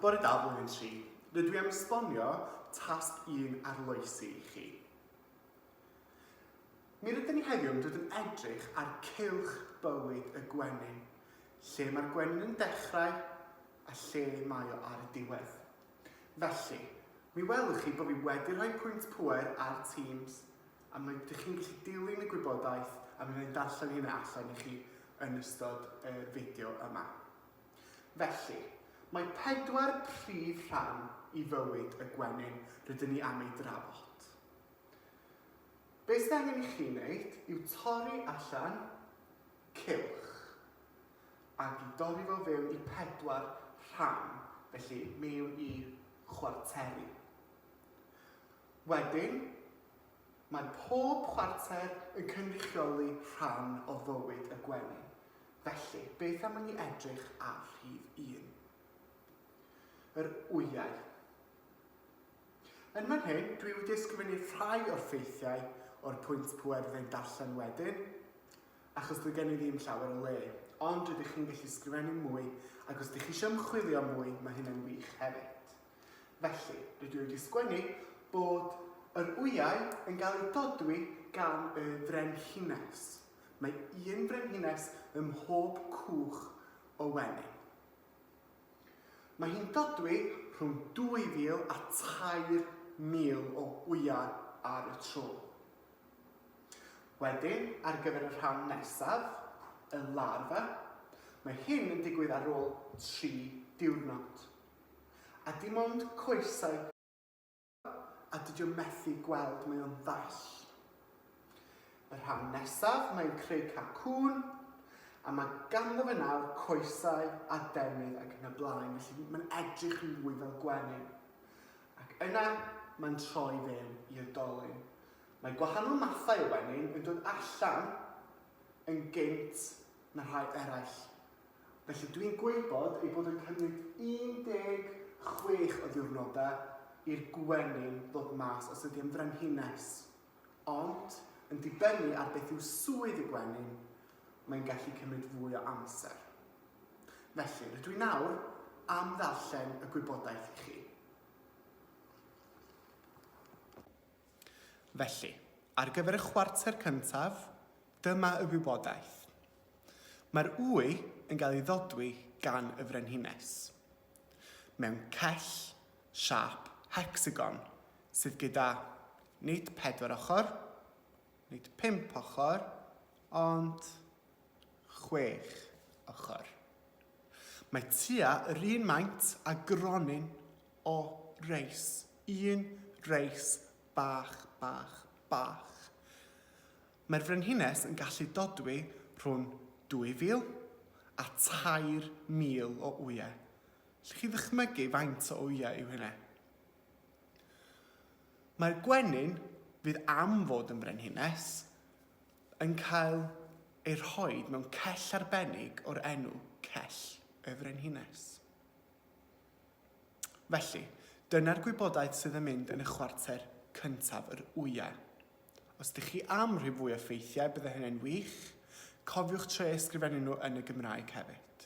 Bore da blwyddyn 3. Rydw i am esbonio tasg 1 arloesi i chi. Mi rydyn ni heddiw yn dod yn edrych ar cylch bywyd y gwenyn, lle mae'r gwenyn yn dechrau a lle mae o ar y diwedd. Felly, mi welwch chi bod fi wedi rhoi pwynt pwer ar Teams a mae dych chi'n gallu dilyn y gwybodaeth a mi wna'n darllen hynna allan i chi yn ystod y fideo yma. Felly, mae pedwar prif rhan i fywyd y gwenyn rydyn ni am ei drafod. Beth sydd angen i chi wneud yw torri allan cylch ac i dorri fo fewn i pedwar rhan, felly mewn i chwarteri. Wedyn, mae pob chwarter yn cynrychioli rhan o fywyd y gwenyn, felly beth am i ni edrych ar rhif un. Yr wyau. Yn fan hyn, dwi wedi ysgrifennu rhai o'r ffeithiau o'r pwynt pwer fyddai'n darllen wedyn, achos dwi gen i ddim llawer o le, ond rydych chi'n gallu sgrifennu mwy, ac os ydych chi eisiau ymchwilio mwy, mae hynny'n wych hefyd. Felly, rydw i wedi sgwennu bod yr wyau yn cael eu dodwy gan y frenhines. Mae un frenhines ym mhob cwch o wenyn. Mae hi'n dodwy rhwng 2,000 a 3,000 o wyau ar y tro. Wedyn, ar gyfer y rhan nesaf, y larfa, mae hyn yn digwydd ar ôl 3 diwrnod. A dim ond coesau gwyn yw e a dydio methu gweld mae o'n ddall. Y rhan nesaf mae'n creu cath cŵn a mae ganddo fe nawr coesau a defnydd ac yn y blaen felly mae'n edrych yn fwy fel gwenyn. Ac yna mae'n troi fewn i'r dolyn. Mae gwahanol mathau o wenyn yn dod allan yn gynt na rhai eraill. Felly dwi'n gwybod ei bod yn cymryd 16 o ddiwrnodau i'r gwenyn ddod mas os ydy o'n frenhines. Ond, yn dibynnu ar beth yw swydd y gwenyn, mae'n gallu cymryd fwy o amser. Felly, rydw i nawr am ddarllen y gwybodaeth i chi. Felly, ar gyfer y chwarter cyntaf, dyma y wybodaeth. Mae'r wy yn cael ei ddodwy gan y Frenhines mewn cell siâp hecsagon sydd gyda nid pedwar ochr, nid pump ochr, ond chwech ochr. Mae tua yr un maint a gronyn o reis, un reis bach, bach, bach. Mae'r Frenhines yn gallu dodwy rhwng 2,000 a 3,000 o wyau. Allwch chi ddychmygu faint o wyau yw hynna? Mae'r gwenyn fydd am fod yn frenhines yn cael ei rhoi mewn cell arbennig o'r enw Cell y Frenhines. Felly, dyna'r gwybodaeth sydd yn mynd yn y chwarter cyntaf yr wyau. Os ydych chi am rhoi fwy o ffeithiau, byddai hynny'n wych. Cofiwch trio eu sgrifennu nhw yn y Gymraeg hefyd.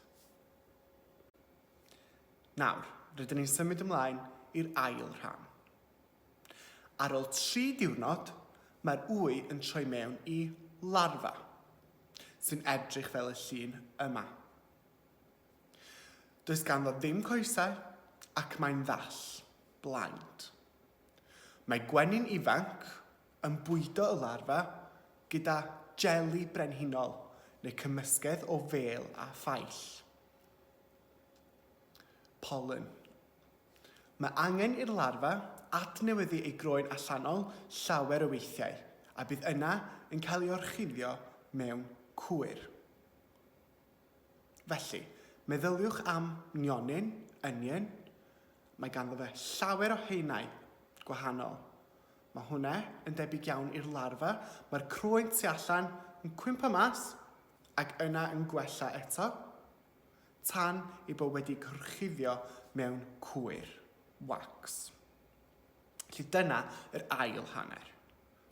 Nawr, rydyn ni'n symud ymlaen i'r ail rhan. Ar ôl tri diwrnod, mae'r wy yn troi mewn i larfa, sy'n edrych fel y llun yma. Does ganddo ddim coesau ac mae'n ddall, blind. Mae gwenyn ifanc yn bwydo y larfa gyda jeli brenhinol neu cymysgedd o fêl a phaill. Pollen. Mae angen i'r larfa adnewyddu ei groen allanol llawer o weithiau a bydd yna yn cael ei orchuddio mewn cwyr. Felly, meddyliwch am nionyn, onion. Mae ganddo fe llawer o haenau gwahanol. Mae hwnna yn debyg iawn i'r larfa. Mae'r croen tu allan yn cwympo mas ac yna yn gwella eto tan ei bod wedi gorchuddio mewn cwyr, wax. Felly dyna yr ail hanner.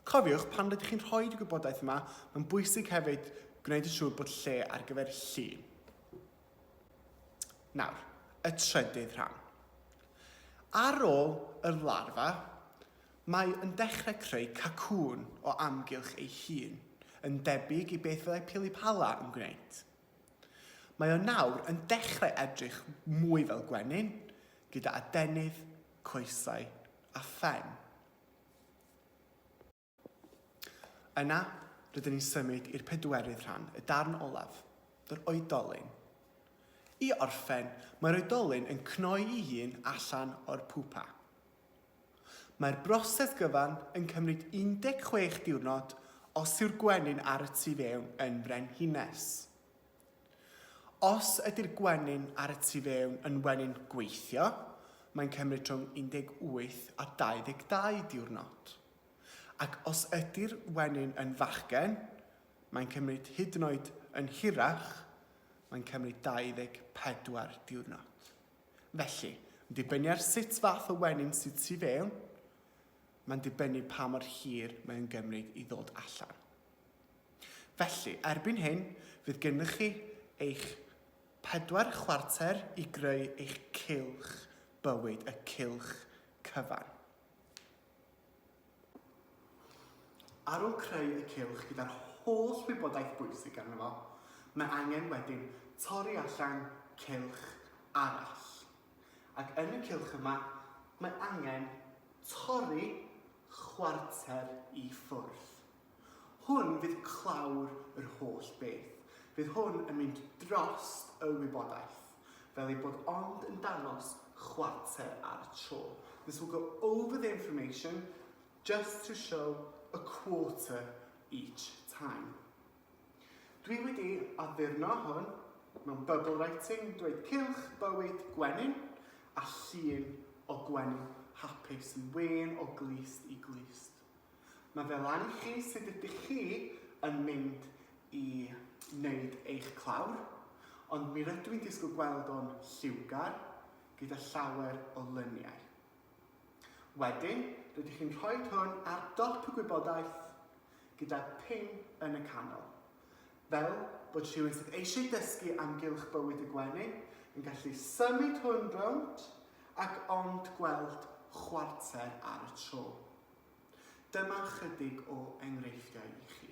Cofiwch, pan rydych chi'n rhoi'r gwybodaeth yma, mae'n bwysig hefyd gwneud yn siŵr bod lle ar gyfer llun. Nawr, y trydydd rhan. Ar ôl y larfa, mae yn dechrau creu cacŵn o amgylch ei hun, yn debyg i beth fyddai pilipala yn gwneud. Mae o nawr yn dechrau edrych mwy fel gwenyn, gyda adenydd, coesau a phen. Yna, rydyn ni'n symud i'r pedwerydd rhan, y darn olaf, yr oedolyn. I orffen, mae'r oedolyn yn cnoi i hun allan o'r pupa. Mae'r broses gyfan yn cymryd 16 diwrnod os yw'r gwenyn ar y tu fewn yn frenhines. Os ydy'r gwenyn ar y tu fewn yn wenyn gweithio, mae'n cymryd rhwng 18 a 22 diwrnod. Ac os ydy'r wenyn yn fachgen, mae'n cymryd hyd yn oed yn hirach, mae'n cymryd 24 diwrnod. Felly, yn dibynnu ar sut fath o wenyn sydd tu fewn, mae'n dibynnu pa mor hir mae'n gymryd i ddod allan. Felly, erbyn hyn, fydd gennych chi eich pedwar chwarter i greu eich cylch bywyd, y cylch cyfan. Ar ôl creu y cylch gyda'r holl wybodaeth bwysig arno fo, mae angen wedyn torri allan cylch arall. Ac yn y cylch yma, mae angen torri chwarter i ffwrdd. Hwn fydd clawr yr holl beth. Bydd hwn yn mynd drost y wybodaeth, fel ei bod ond yn dangos chwarter ar y tro. This will go over the information just to show a quarter each time. Dwi wedi addurno hwn mewn bubble writing, dweud cylch, bywyd, gwenyn, a llun o gwenyn hapus yn wên o glust i glust. Mae fe lan i chi sut ydych chi yn mynd i wneud eich clawr, ond mi rydw i'n disgwyl gweld o'n lliwgar gyda llawer o lyniau. Wedyn, rydych chi'n rhoi hwn ar dop y gwybodaeth gyda pin yn y canol, fel bod rhywun sydd eisiau dysgu am gylch bywyd y gwenyn yn gallu symud hwn rownd ac ond gweld chwarter ar y tro. Dyma chydig o enghreifftiau i chi.